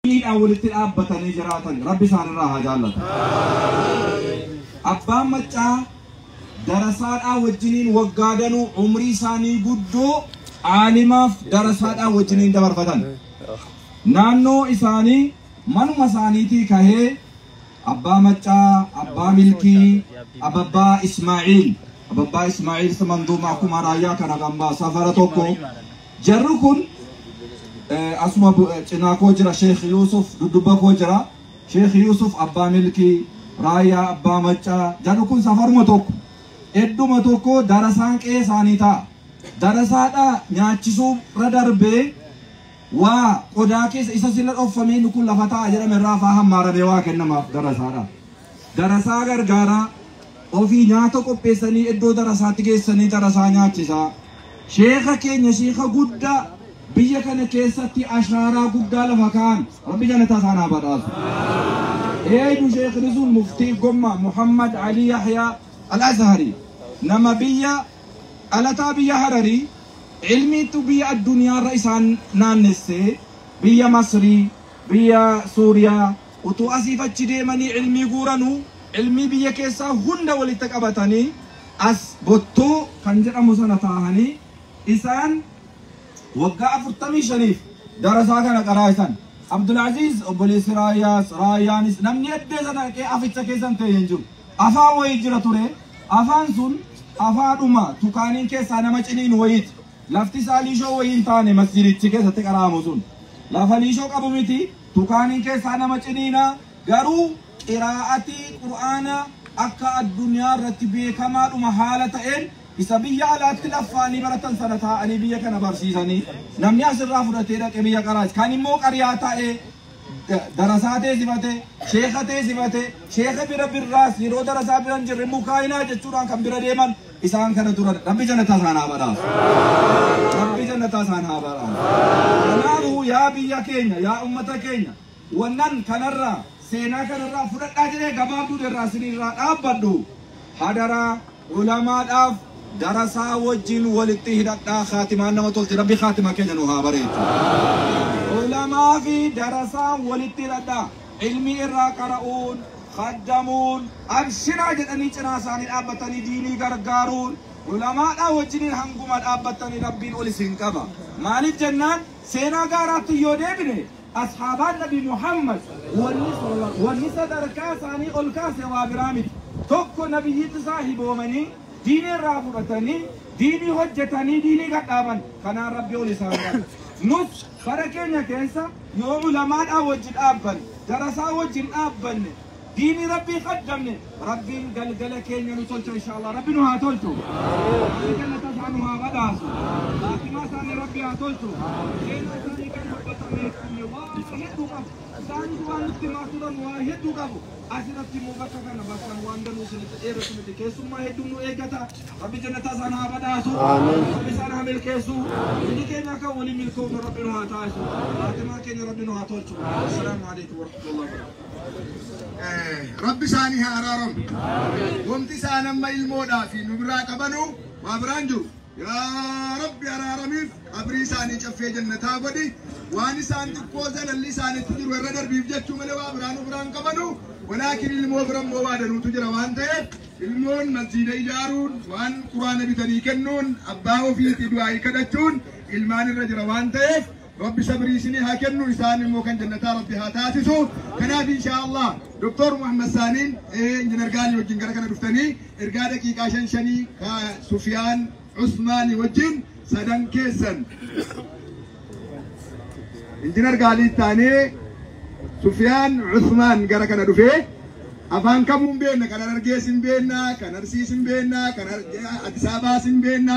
diiniidhaan walitti dhaabbatanii jiraatan rabbi isaanirraa haa jaallatu. Abbaan maccaa darasaadhaa wajjiniin waggaa danuu umrii isaanii guddoo aalimaaf darasaadhaa wajjiniin dabarfatan. Naannoo isaanii manuma isaaniitii kahee abbaa maccaa, abbaa milkii, ababbaa Ismaa'iil. Ababbaa Ismaa'iil manduuma akkuma raayyaa kana kan baa safara tokko Jarri kun eh, asuma bu- eh, cinaa koo jira Sheekh Yuusuf dudduba koo jira. Sheekh Yuusuf abbaa milkii raayyaa abbaa maccaa jarri kun safaruma tokko edduma tokko darasaan qe'ee isaanii ta'a. Darasaadhaa nyaachisuu irra darbee waa qodaa keessa isa sila dhoffamee inni kun lafa ta'a jedhame irraa faa hammaaramee waa kennamaaf darasaadhaa. Darasaa gargaaraa, ofii nyaata qopheessanii iddoo darasaatti geessanii darasaa nyaachisaa. Sheekha keenya sheekha guddaa biyya kana keessatti ashaaraa guddaa lafa kaa'an rabbi janataa isaan haa badhaasu. Eeydu sheekhni sun muftii gomma Muhammad Ali Yahyaa Al-Azhari nama biyya dhalataa biyya Hararii ilmiitu biyya addunyaarra isaan naannessee biyya Masrii biyya Suuriyaa Utuu asiif achi deemanii cilmii guuranuu, cilmii biyya keessaa hunda walitti qabatanii as Bottuu kan jedhamu sana taahanii isaan waggaa 45f darasaa kana qaraa'isan. Abdul'aziiz obboleessi Raayyaas, Raayyaanis namni eddee sana dhaqee aficha keessa hin teenye hin jiru. Afaan wayii jira ture, afaan sun afaadhuma tukaaniin keessaa nama ciniinu wayiiti. Lafti isaa liishoo wayii hin taane masjidichi keessatti qara'amu sun. Lafa liishoo qabu miti, tukaaniin keessaa nama ciniina, garuu qiraa'atii qur'aana akka addunyaa irratti beekamaadhuma haala ta'een isa biyya alaatti laffaanii baratan sana taa'anii biyya kana barsiisanii namni asirraa fudhatee dhaqe biyya qaraas kan immoo qariyaa taa'ee darasaa tee simate sheeka tee simate sheeka bira birraas yeroo darasaa bira hin jirre mukaayinaa jechuudhaan kan bira deeman isaan kana turan rabbi jannataa isaan haa badhaasu rabbi jannataa isaan haa badhaasu kanaafuu yaa biyya keenya yaa ummata keenya wannan kanarraa seenaa kanarraa fudhadhaa jedhee gabaabduu irraa siniirraa dhaabbadhu hadaraa Ulamaadhaaf darasaa wajjin walitti hidhadhaa khaatimaan nama tolti rabbi khaatima keenya nu haa bareechu. Ulamaa fi darasaan walitti hidhadhaa ilmii irraa qara'uun khaddamuun abshiraa jedhanii cinaa isaanii dhaabbatanii diinii gargaaruun ulamaadhaa wajjiniin hanguma dhaabbattanii rabbiin ol isin qaba. Maaliif jennaan seenaa gaaraatti yoo deebine Ashaabaan Nabi Muhammad wanni sadarkaa isaanii ol kaase waa biraa miti. Tokko Nabiyyitti saahiboomanii, diinii irraa fudhatanii, diinii hojjetanii, diinii gad dhaaban. Kanaan Rabbi ol isaan qabe. Nus bara keenya keessa yoo ulamaadhaa wajji dhaabbanne, darasaa wajjin dhaabbanne, Diini rabbii qaddamne rabbiin galgala keenya nu tolcha inshallah rabbi nu haa tolchu rabbi jannata isaa nu haa badhaasu faatimaa isaanii rabbi haa tolchu seenaa isaanii kan dubbatamee qabne waa hedduu qabu isaanis waan nutti himaa turan waa hedduu qabu asirratti immoo bakka kana bakka waan danuu isinitti dheeratu miti keessummaa hedduun nu eeggata rabbi jannata isaan haa badhaasu rabbi isaan haa milkeessu inni keenya akka waliin milkoofnu rabbi nu haa taasisu faatimaa keenya rabbi nu haa tolchu assalaamu alaikum warahmatullahi wabarakatuh Rabbi isaanii haa araaramu. Wanti isaan amma ilmoodhaa fi nu biraa qabanu waa biraan jiru. Yaa Rabbi araaramiif qabrii isaanii caffee jannataa godhi. Waan isaan xiqqoo zalalli isaanitti jiru irra darbiif jechuu malee waa biraa nu biraan qabanu. Walaakin ilmoo bira immoo waa danuutu jira waan ta'eef ilmoon masjiida ijaaruun waan quraana bitanii kennuun abbaa ofiitti du'aa'ii kadhachuun ilmaan irra jira waan ta'eef Rabbi sabrii isinii haa kennu isaan immoo kan jannataa rabbi haa taasisu kanaaf inshaa Allah Dr. Muhammad Saaniin injinar Gaanii wajjin gara kana dhuftanii ergaa daqiiqaa shan shanii ka Sufiyaan Usmaanii wajjin sadan keessan injinar Gaalii taanee Sufiyaan Usmaan gara kana dhufee afaan kamuun beenna kan Harargees hin beenna kan Arsiis hin beenna kan Addis Ababaas hin beenna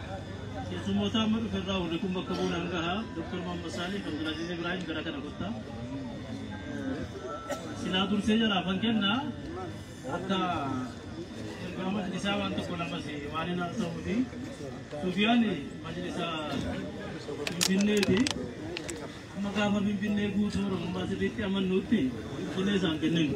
Keessummootaa amma dhufe irraa warri kun bakka bu'uun hangaha Dr. Muhammad Saalih kan Abdulaziz Ibrahim gara kana gotta. Silaa dursee jalaaf kan kenna akka ergaa majlisaa waan tokko lamas waan hin haasa'uu fi Sufiyaan majlisa Finfinneeti. Amma gaafa Finfinnee guutuu Oromummaa sirriitti amannuutti Finfinnee isaan kenninu.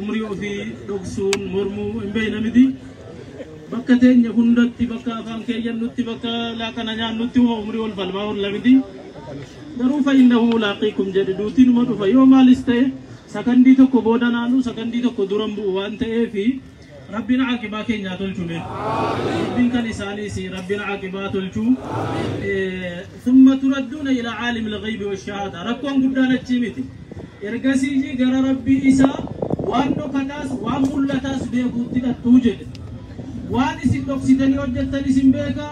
umrii ofii dhoksuun mormuu hin beekna miti. Bakka teenya hundatti bakka afaan keeyyannutti bakka laaqana nyaannutti uma umrii wal falmaa oolla miti. Garuu fa'innahu mulaaqiikum jedhe duutiin uma dhufa yoo maalis ta'e sakandii tokko booda naanuu sakandii tokko duran bu'u waan ta'eefi Rabbiin aaqibaa keenya haa tolchu mee. Rabbiin kan isaaniis Rabbiin aaqibaa tolchu. Thumma turadduuna ila caalim lghaybi washahaada. Rakkoon guddaan achii miti. Ergasii gara Rabbii isaa waan dhokataas waan mul'ataas beekuutti dhattuu jedhe. Waan isin dhoksitanii hojjettan isin beeka.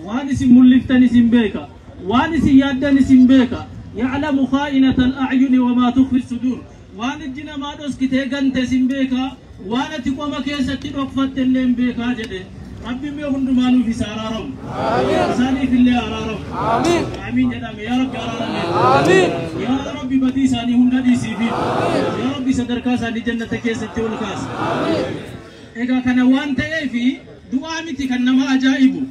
Waan isin mul'iftan isin beeka. Waan isin yaaddan isin beeka. Ya'lamu khaa'inata al-a'yuni wa maa tukhfi suduur. Waan ijji namaa dhoskitee gantes hin beeka, waan ati qoma keessatti dhokfatte illee hin beeka jedhe. Rabbiin mee hundumaa nuuf isa araaramu. Isaaniif illee araaramu. Aamiin jedhame. Yaa Rabbi araarame. Yaa Rabbi badii isaanii hunda dhiisiifi. Yaa Rabbi sadarkaa isaanii jannata keessatti ol kaasi. Egaa kana waan ta'eef du'aa miti kan nama ajaa'ibu.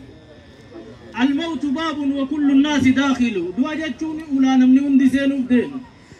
Almawtu baabun wa kullu naasi daakhilu. Du'a jechuun ulaa namni hundi seenuuf deemu.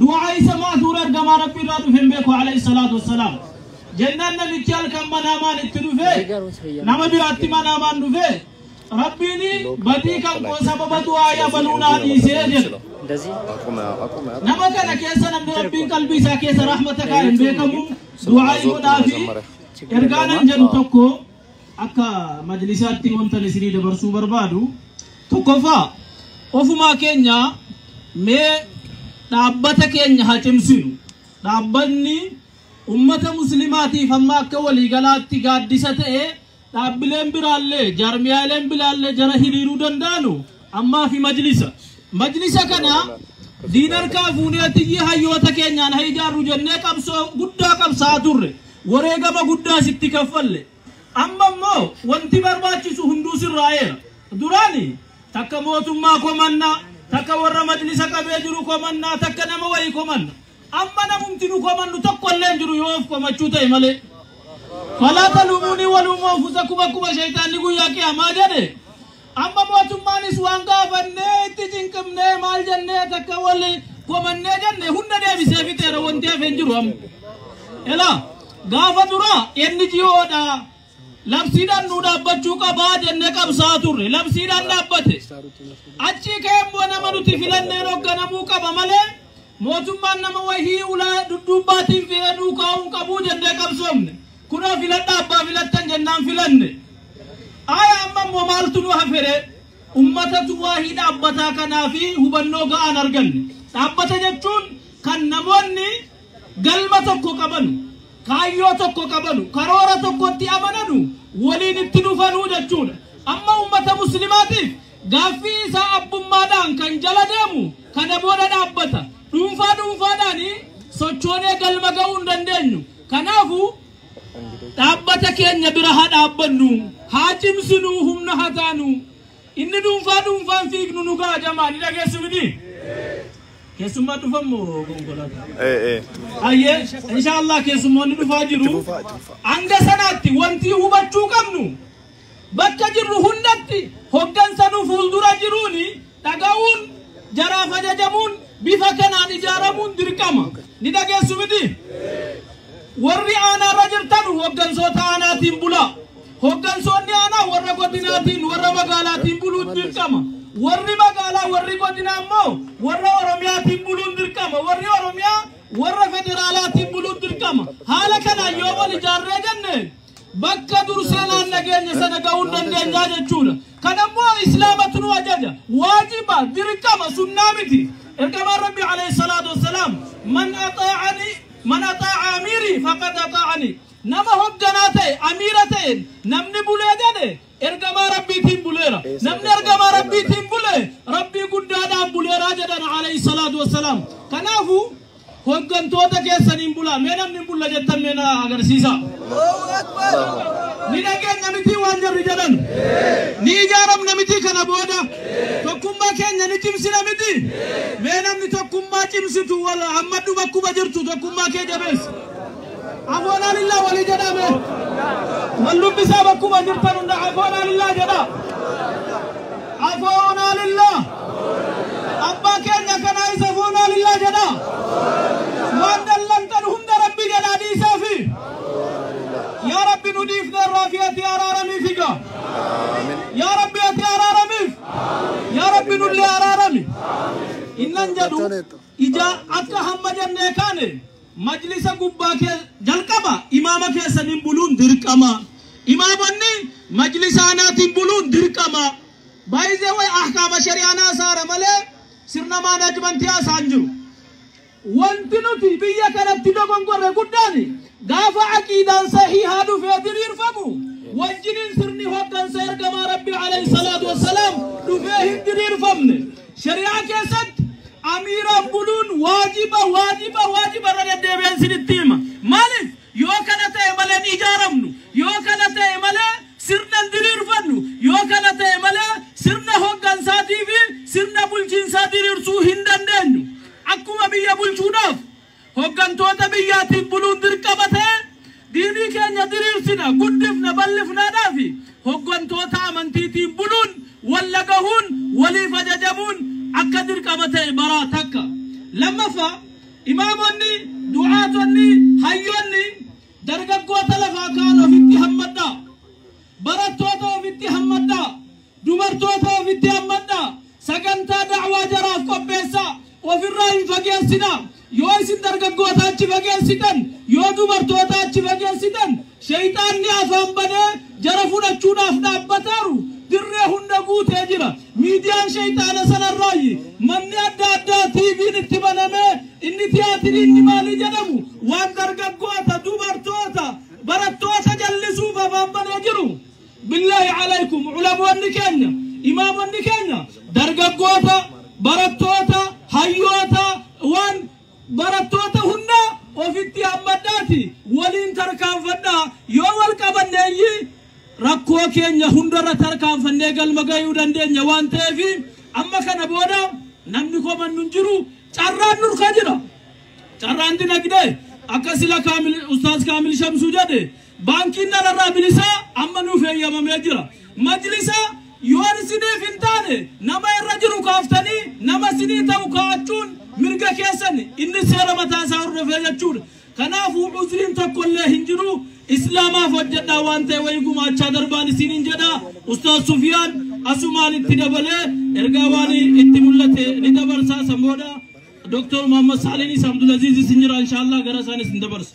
Du'aa isa ma'asuura ergamaa Rabbii irraa dhufe hin beeku alayhi salaatu wassalaam. Jennaan namichi halkan manaamaan itti dhufe nama biraatti manaamaan dhufe Rabbiin badii kan koo sababa du'aa yabaluu naa dhiisee jedhe. Nama kana keessa namni Rabbiin qalbii isaa keessa rahmata kaa'e hin beekamu du'aa godhaa fi ergaa nan jedhu tokko Akka majlisaatti wantan isinii dabarsuu barbaadu tokkoffaa ofumaa keenya mee dhaabbata keenya haa cimsinu. Dhaabbanni ummata muslimaatiif amma akka waliigalaatti gaaddisa ta'e dhaabbileen biraallee jaarmiyaaleen biraallee jara hiriiruu danda'anu Ammaa fi majlisa. Majlisa kana diin harkaa fuunee atiyyi hayyoota keenyaan ha ijaarru jennee qabsoo guddaa qabsaa turre. Wareegama guddaas itti kaffalle. Amma immoo wanti barbaachisu hunduu sirraa'eera. Duraani takka mootummaa komannaa, takka warra majlisa qabee jiru komannaa, takka nama wayii komanna. Amma namumti nu komannu tokko illee hin jiru yoo of komachuu ta'e malee. Falaa taluumuunii waluumuu anfusakum akkuma sheeyxaanni guyyaa qiyaamaa jedhe. Amma mootummaanis waan gaafannee itti cinqimnee maal jennee takka wal komannee jenne hunda deebisee fixeera wanti hafe hin jiru amma. Elaa gaafa dura NGOdha labsiidhaan nu dhaabbachuu qabaa jennee qabsaa turre labsiidhaan dhaabbate. Achii keemmoo nama nuti filanneen hoogganamuu qaba malee mootummaan nama wahii ulaa dudduubbaatiin fi'ee duukaa'uu hin qabu jennee qabsoomne. Kunoo filadhaa abbaa filattan jennaan filanne. Aaya amma immoo maaltu nu haferee? Ummatatu waahii dhaabbataa kanaa fi hubannoo ga'aan arganne. Dhaabbata jechuun kan namoonni galma tokko qabanu, kaayyoo tokko qabanu, karoora tokkotti amananu waliin itti dhufanuu jechuudha. Amma ummata muslimaatiif gaaffii isaa abbummaadhaan kan jala deemu kana booda dhaabbata. Dhuunfaa dhuunfaadhaanii sochoonee galma ga'uu hin dandeenyu. Kanaafuu, dhaabbata keenya bira haa dhaabbannu, haa cimsinu, humna haa taanu. Inni dhuunfaa dhuunfaan fiignu nu ga'a jamaa ni dhageessu miti? Keessummaa dhufan moo konkolaataa? Eh, eh. Ayyee, inshaallah keessummoonni dhufaa jiru. Hanga sanaatti wanti hubachuu qabnu Bakka jirru hundatti hoggansa nu fuuldura jiruun dhaga'uun jaraaf ajajamuun bifa kanaan ijaaramuun dirqama. Ni dhageessu miti? Warri aanaarra jirtan hoggansoota aanaatiin bulaa. Hoggansoonni aanaa warra godinaatiin warra magaalaatiin buluun dirqama. Warri magaalaa warri godinaa immoo warra Oromiyaatiin buluun dirqama. Warri Oromiyaa warra federaalaatiin buluun dirqama. Haala kanaan yoo wal ijaarree jenne Bakka dur sanaan dhageenya sana ga'uun dandeenyaa jechuudha. Kan ammoo Islaamatu nu ajaja. Waajiba, dirqama, sunnaa miti. Ergamaan Rabbi alayhi salaatu wassalaam man axaa'ani man axaa'a amiirii faqad axaa'ani. Nama hogganaa ta'e, amiira ta'een namni bulee gale Ergamaa Rabbiitiin buleera. Namni ergamaa Rabbiitiin bule Rabbii guddaadhaan buleeraa jedhan alayhi salaatu wassalaam. Kanaafu hoggantoota keessaniin bulaa mee namni hin bulla jettan mee na agarsiisa. Ni dhageenya mitii waan jarri jedhan. Ni ijaaramna mitii kana booda. Tokkummaa keenya ni cimsina miti. Mee namni tokkummaa cimsitu wal hammadhu bakkuma jirtu tokkummaa kee jabeessi. Afoonaa lillaa walii jedhaa mee. Wal dubbisaa bakkuma jirtan hunda afoonaa lillaa jedhaa. Afoonaa lillaa. Abbaa keenya kanaa isa afoonaa lillaa jedhaa. Waan dallantan hunda rabbi jedhaa dhiisaa fi. Yaa rabbi nu dhiifneerraa fi ati araaramii figa. Yaa rabbi ati araaramiif. Yaa rabbi nullee araarami. Innan jedhu. Ijaa akka hamma jannee kaane majlisa gubbaa kee jalqaba imaama keessaniin buluun dirqama. Imaamonni majlisa anaatiin buluun dirqama. By the way ahkaama shari'aan haasaara malee sirna maanaajmantii haasaan jiru. Wanti nuti biyya kanatti dogongorre guddaan Gaafa aqiidaan sahiihaa dhufee diriirfamu wajjiniin sirni hoggansa ergamaa Rabbii alayhi salaatu wassalaam dhufee hin diriirfamne. Shari'aa keessatti amiiraaf buluun waajiba waajiba waajiba irra deddeebi'een sinitti hima. Maaliif? Yoo kana ta'e malee hin ijaaramnu. Yoo kana ta'e malee sirna hin diriirfannu. Yoo kana ta'e malee sirna hoggansaatii fi sirna bulchiinsaa diriirsuu hin dandeenyu. Akkuma biyya bulchuudhaaf Hoggantoota biyyaatiif buluun dirqama ta'e, diinii keenya diriirsina, guddifna, bal'ifnaadhaa fi hoggantoota amantiitiin buluun, wal dhagahuun, waliif ajajamuun akka dirqama ta'e baraa. Takka. Lammaffaa, imaamonni, du'aatonni, hayyoonni, dargaggoota lafaa ka'an ofitti hammadhaa. Barattoota ofitti hammadhaa. Dubartoota ofitti hammadhaa. Sagantaa da'waa jaraaf qopheessaa. Ofirraa hin fageessinaa. Yoo isin dargaggoota achi fageessitan, yoo dubartoota achi fageessitan, sheyxaanni afaan banee jara fudhachuudhaaf dhaabbataaru dirree hunda guutee jira. Miidiyaan sheyxaana sanarraayyi manni adda addaa TVn itti banamee inni tiyaatirii inni maalii jedhamu waan dargaggoota, dubartoota, barattoota jallisuuf afaan banee jiru. Billahi Alaikum Ulamoonni keenya, Imaamonni keenya Dargaggoota, Barattoota, Hayyoota, waan Barattoota hunda ofitti hammadhaati waliin tarkaanfadhaa yoo wal qabanne iyyi rakkoo keenya hundarra tarkaanfannee galma gayuu dandeenya waan ta'eef amma kana booda namni komannu hin jiru carraan nurka jira carraan dinagdee akka sila kaamil ustaaz kaamil shamsuu jedhe Baankiin dhalarraa bilisaa amma nuuf heeyyamamee jira. Majlisa yoon isiniif hin taane nama irra jiru kaaftanii nama isinii ta'u kaa'achuun mirga keessan inni seera mataa isaa hordofee jechuudha. Kanaafuu uzriin tokko illee hin jiru. Islaamaaf hojjedhaa waan ta'e wayii gumaachaa darbaan isin hin jedha. Ustaaz Sufiyaan asumaan itti dabalee ergaa waan itti mul'ate ni dabarsaa san booda Dr. Muhammad Saaliinis Abdulaziizis hin jira inshaallah gara isaanis hin dabarsa.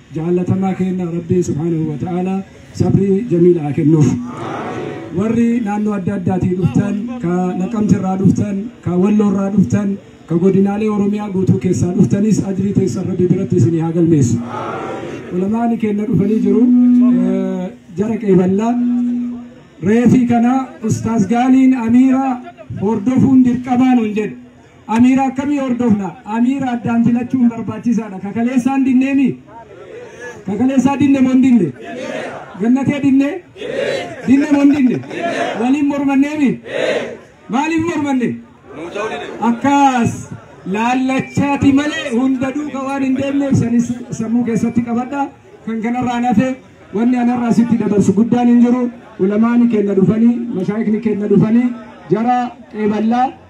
Jaallatamaa keenna Rabbiin subhaanahu wa ta'aalaa sabrii jamiila haa kennuuf. Warri naannoo adda addaatii dhuftan, ka Naqamte irraa dhuftan, ka Walloo irraa dhuftan, ka godinaalee Oromiyaa guutuu keessaa dhuftanis ajrii teessan Rabbi biratti isinii haa galmeessu. Ulamaani keenna dhufanii jiru. Eh, Jara qeeballaa. Reefii kana Ustaaz Gaaliin Amiiraa hordofuun dirqamaa nuun jedhe. Amiira akkamii hordofna? Amiira addaan filachuun barbaachisaadha. Ka kaleessaan dinneemi? Ka kaleessaa dinne moo hin dinne? Gannatee dinne? Dinne moo hin dinne? Waliin mormanneemi? Maaliif mormanne? Akkas laallachaati malee hunda duuka waan hin deemneef sanis sammuu keessatti qabadha. Kan kanarraa nafe wanni anarraa sitti dabarsu guddaan hin jiru. Ulamaani kenna dhufanii, mashaayikni kenna dhufanii, jara qeeballaa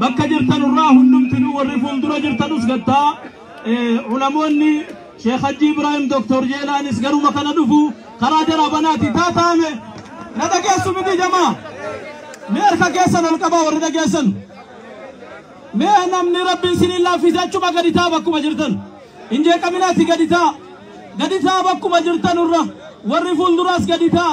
Bakka jirtan irraa hundumtinuu warri fuuldura jirtanus gattaa ulamoonni Sheekh Hajji Ibrahim Doktor Jeelaanis garuma kana dhufu karaa jara banaati taataame na dhageessu miti jamaa mee harka keessan ol qabaa warri dhageessan mee namni rabbiin siniin laaffise achuma gadi taa bakkuma jirtan hin jeeqaminaati gadi taa gadi taa bakkuma jirtan irra warri fuulduraas gadi taa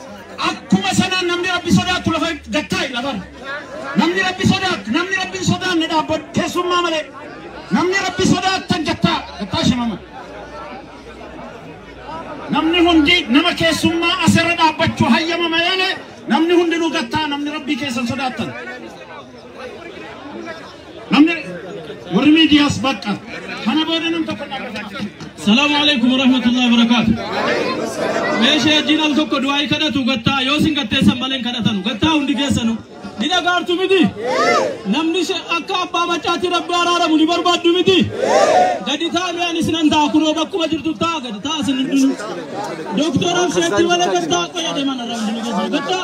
Akkuma sanaan namni Rabbi sodaattu lafa gad taa'i lafarra. Namni Rabbi sodaattu, namni Rabbi hin sodaanne dhaabbadhu keessummaa malee. Namni Rabbi sodaattan gad taa'a, gad taa'a shimama. Namni hundi nama keessummaa asirra dhaabbachuu hayyama malee namni hundinuu gad taa'a, namni Rabbii keessan sodaattan. Namni warri miidiyaas bakka kana booda nam tokko dhaabbata. Salaamu alaikum warahmatullahi wabarakaatu. Meeshee wajjin al tokko du'aa'ii kadhatu gattaa yoo sin gatteessan malee hin kadhatanu gattaa hundi keessanu ni dhagaartu miti. Namni she- akka abbaa maccaatii rabbi araaramu ni barbaaddu miti. Gadi ta'a mee anis nan ta'a kunoo bakkuma jirtu ta'a gadi ta'a sin hundinu. Dooktora Absheetti malee gattaa qoyya deeman arrabni ni geessu gattaa.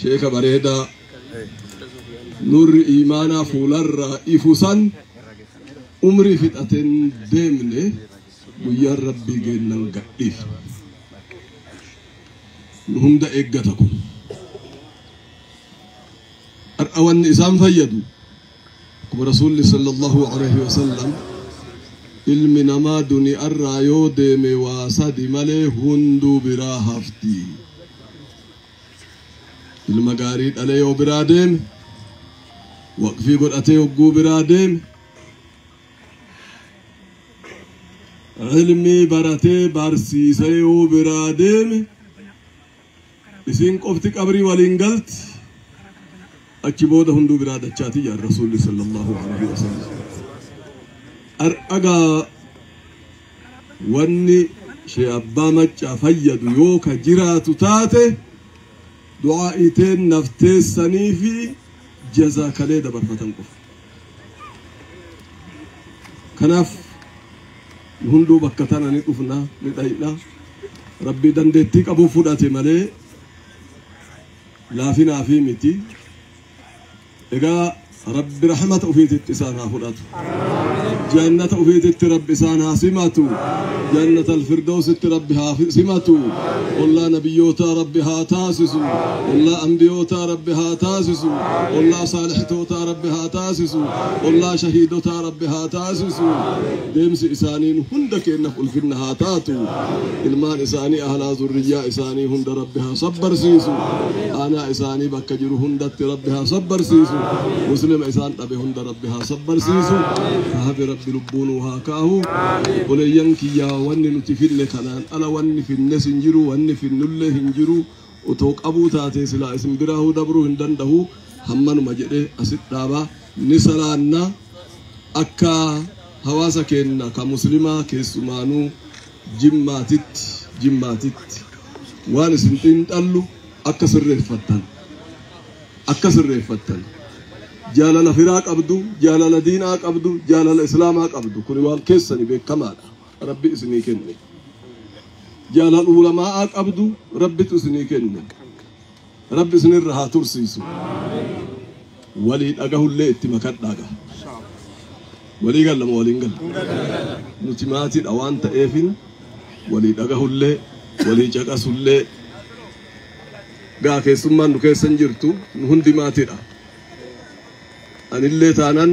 sheeka bareedaa nurri imaanaa fuularraa ifu san umrii fixateen deemne guyyaan rabbii geennan gadhiif nu hunda eeggata kun har'a wanni isaan fayyadu Rasuulli sallallahu aleyhi wa sallam ilmi namaa duni'arraa yoo deeme waa sadi malee hunduu biraa hafti. Ilma gaarii dhalee yoo biraa deeme, waqfii godhatee hogguu biraa deeme, ilmii baratee barsiisee yoo biraa deeme, Isiin qofti qabrii waliin galti. Achi booda hunduu biraa dachaati jedhan Rasuulli sallallahu alaihi wasallam. Har'agaa wanni shee abbaa maccaa fayyadu yoo ka jiraatu taate du'aa iteen nafteessanii fi jazaa kalee dabarfatan qofa. Kanaaf nu hunduu bakka tana ni dhufna ni dhayna. Rabbii dandeettii qabu fudhate malee laafinaa fi miti. Egaa Rabbi rahmata ofiititti isaan haa fudhatu. Jannata ofiititti Rabbi isaan haa simatu. Jannata alfirdoositti Rabbi haa simatu. Ollaa nabiyyootaa Rabbi haa taasisu. Ollaa anbiyootaa Rabbi haa taasisu. Ollaa saalixtootaa Rabbi haa taasisu. Ollaa shahiidotaa Rabbi haa taasisu. Deemsi isaaniin hunda keenyaf ulfinna haa taatu. Ilmaan isaanii ahlaa zurriyyaa isaanii hunda Rabbi haa sabbarsiisu. Aanaa isaanii bakka jiru hundatti Rabbi haa sabbarsiisu. Muslima isaan dhabe hunda Rabbi haa sabbarsiisu. Hafi Rabbi lubbuu nuu haa kaahu. Obboleeyyan kiyyaa wanni nuti finne kanaan ala wanni finnes hin jiru wanni finnullee hin jiru. Otoo qabuu taatee silaa isin biraahuu dabruu hin dandahuu hammanuma jedhee asit dhaaba. Ni salaanna akka hawaasa keenna ka muslimaa keessumaanuu jimmaatitti jimmaatitti waan isin xiinxallu akka sirreeffattan akka sirreeffattan jaalala firaa qabdu jaalala diinaa qabdu jaalala islaamaa qabdu kuni waan keessani beekkamaadha. rabbi isinii kenne jaalan ulama'aa qabdu rabbitu isinii kenne rabbi isinirra haa tursiisu walii dhagahullee itti makadhaaga walii gallama waliin galla nuti maatiidha waan ta'eefin walii dhagahullee walii caqasullee gaa keessummaan nu keessa hin jirtu nu hundi maatiidha anillee taanan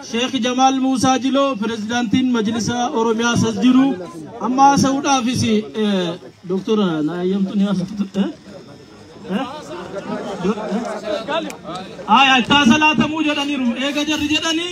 Sheikh Jamaal Muusaa Jiloo Pirezidaantiin Majlisa Oromiyaas as jiru. Amma haasa'uudhaafis Dooktora na eeyyamtu ni haasa'u. Aya itti haasa'uu jedhaniiru. Eega jarri jedhanii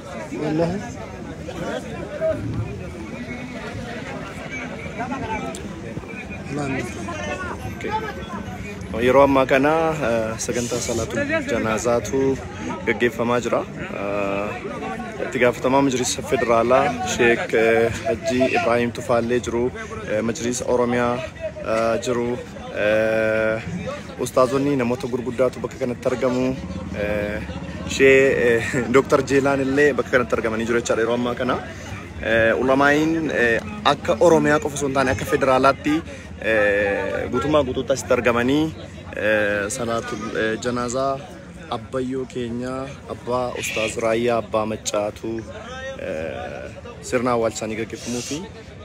Yeroo ammaa kana eh, sagantaa salaatu janaazaatu gaggeeffamaa jira. Eh, Itti gaafatamaa majlisa federaalaa Sheek eh, Hajjii Ibraahiim Tufaallee jiru, eh, majlisa Oromiyaa eh, jiru, eh, Ustaazonni namoota gurguddaatu bakka kanatti argamu. Ishee Dooktar Jeelaan illee bakka kanatti argamanii jiru jechaadha yeroo ammaa kana. Ulamaa'iin akka Oromiyaa qofa osoo hin taane akka federaalaatti guutummaa guutuutti asitti argamanii salaatul janaazaa abbayyoo keenya abbaa ustaaz raayyaa abbaa maccaatu sirna awwaalchaanii gaggeeffamuu fi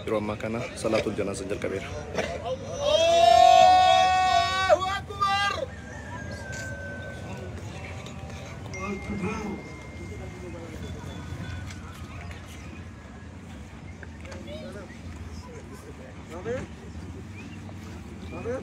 Yeroo ammaa kana salaatul janaazan jalqabeera. Amen. Amen.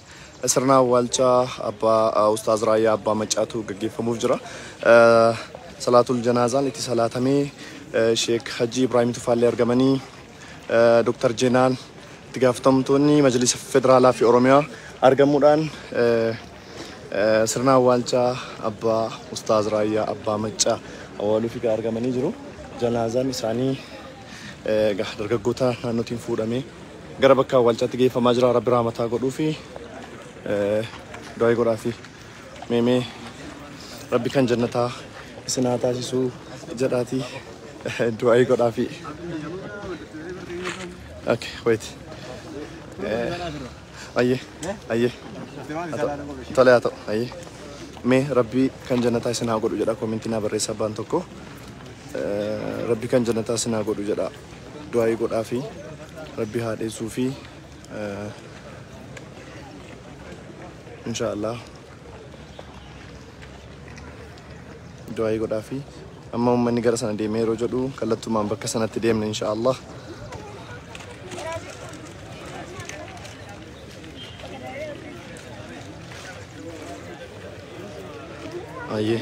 Sirna awwaalcha abbaa Ustaaz Raayyaa Abbaa Maccaatu gaggeeffamuuf jira. Salaatul janaazaan itti salaatamee Sheek Hajjii Ibraahim Tufaallee argamanii Dr. Jeenaan itti gaafatamtoonni Majlisa Federaalaa fi Oromiyaa argamuudhaan sirna awwaalcha abbaa Ustaaz Raayyaa Abbaa Maccaa awwaaluuf egaa argamanii jiru. Janaazaan isaanii Egaa dargaggoota naannootiin fuudhamee gara bakka awwaalchaatti geeffamaa jira. Rabbi raamataa godhuufi du'aayi godhaafi meemee rabbi kan jannataa isin haa taasisuu jedhaatii du'aayi godhaafi. Okay, wait. Ayyee. Ayyee. Tole haa ta'u. Ayyee. Mee rabbii kan jannataa isin haa godhu jedha koomentii naa barreessa abbaan tokko. Eh, Rabbii kan jannataa isin haa godhu jedha. Du'aayii godhaa fi rabbii haa dheessuu fi eh, inshaallah du'aayii godhaafi amma ummanni gara sana deemee yeroo jedhu kallattumaan bakka sanatti deemne insha Allah ayyee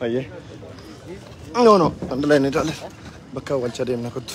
Ayyee. No no, andalaa inni ilaale. Bakka awwaalchaa deemna kottu.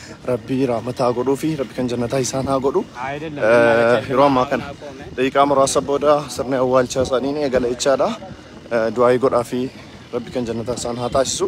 Rabbii raamata haa godhuu fi rabbi kan jannataa isaan haa godhu. Yeroo ammaa kana daqiiqaa muraasa booda sirni awwaalchaa isaanii ni eegala jechaadha. Du'aayii godhaa fi rabbi kan jannataa isaan haa taasisu.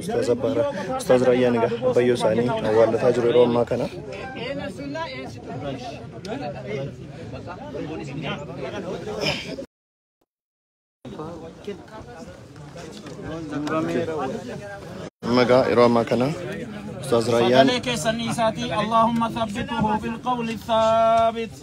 Ustaaz Abbaara. Ustaaz Raayyaan egaa abbayyoo isaanii awwaallataa jiru yeroo ammaa kana. Amma egaa yeroo ammaa kana Ustaaz Raayyaan sagalee keessanii isaatii Allahumma thabbituhu bil qawli thaabit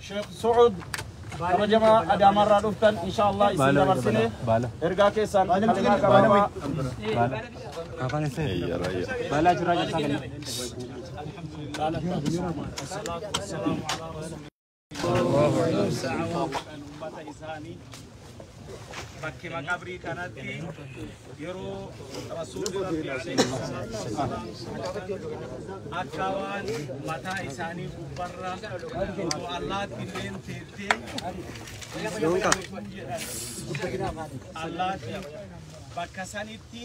Sheekh Su'ud kabajamaa Adaamaarraa dhuftan insha Allah isin dabarsine ergaa keessaan kalimaa gabaabaa bakki maqabrii kanatti yeroo rasuulli rabbi alayhi salaatu wassalaam akka waan mataa isaanii gubbarra utuu allaatti illeen teettee jedhan allaatti bakka sanitti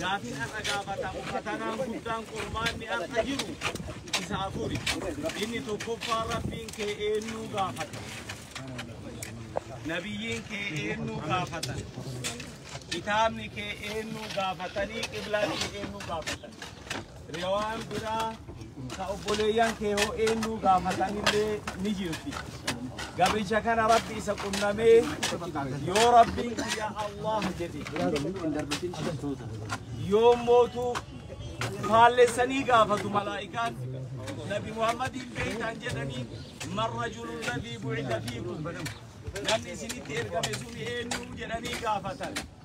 Gaafiin har'a gaafatamu fatanaan guddaan qormaanni har'a jiru isa afuri. Inni tokkoffaa rabbiin kee eenyuu gaafata. Nabiyyiin kee eenyuu gaafatan. Kitaabni kee eenyuu gaafatanii qiblaa kee eenyuu gaafatan. Riwaan biraa ka obboleeyyan kee hoo eenyuu gaafatanillee ni jirti. Gabricha kana rabbi isa qunnamee yoo rabbiin kiyya Allah jedhe yoo mootuu faallessanii gaafatu malaa'ikaan nabi Muhammadiin beektaan jedhanii man rajulu ladii bu'ita fiikum namni isinitti ergame sun eenyuu jedhanii gaafatan.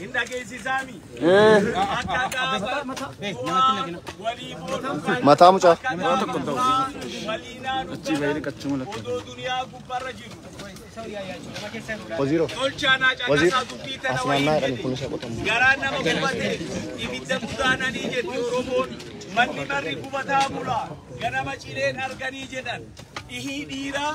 hin dhageessisaami. Akka gaafa bu'aa walii booduu Mataa mucaa. akka gaafa bu'aa walii naanuu galan odoo duniyaa gubbarra jiru. Waziiroo. Tolchaan haa caqasaa dubbii tana Asmaannaa wayii jedhe. jedhani kun isa qotamu. Garaa nama gubate ibidda gudaananii jedhe Oromoon manni marri gubataa bula ganama cileen arganii jedhan dhihii dhiiraa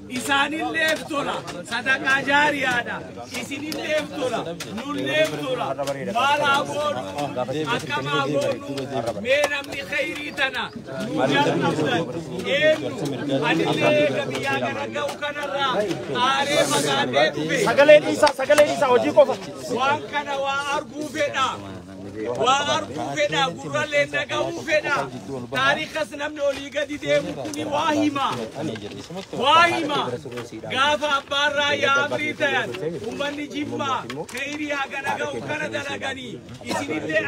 isaanilleef tola sadaqaa jaariyaadha isinilleef tola nulleef tola maal haa goonu akkam haa goonu mee namni khayrii tana nu jalqabdan eenyu anillee eega biyyaa kana ga'u kanarraa aaree fagaadhee dhufe sagalee dhiisaa sagalee dhiisaa hojii qofa waan kana waa arguu fedha Waa arguu fedha, gurrallee dhaga'uu fedha. Taarikas namni olii gadi deemu kuni waa hima. Waa hima. Gaafa abbaan raayyaa amrii tayan, ummanni jimmaa kayrii haga dhaga'u kana dalaganii isinillee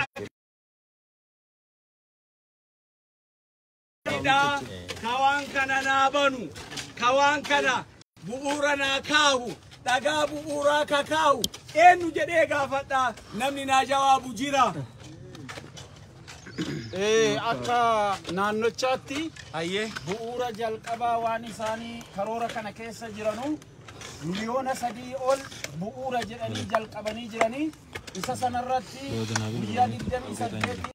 Ka waan kana naa banu, ka waan kana bu'uura naa kaahu, dhagaa bu'uuraa ka kaahu, eenyu jedhee gaafadha namni naa jawaabu jira. Ee, akka naannochaatti Hayyee. bu'uura jalqabaa waan isaanii karoora kana keessa jiranu miliyoona sadii ol bu'uura jedhanii jalqabanii jiranii isa sanarratti guyyaa 28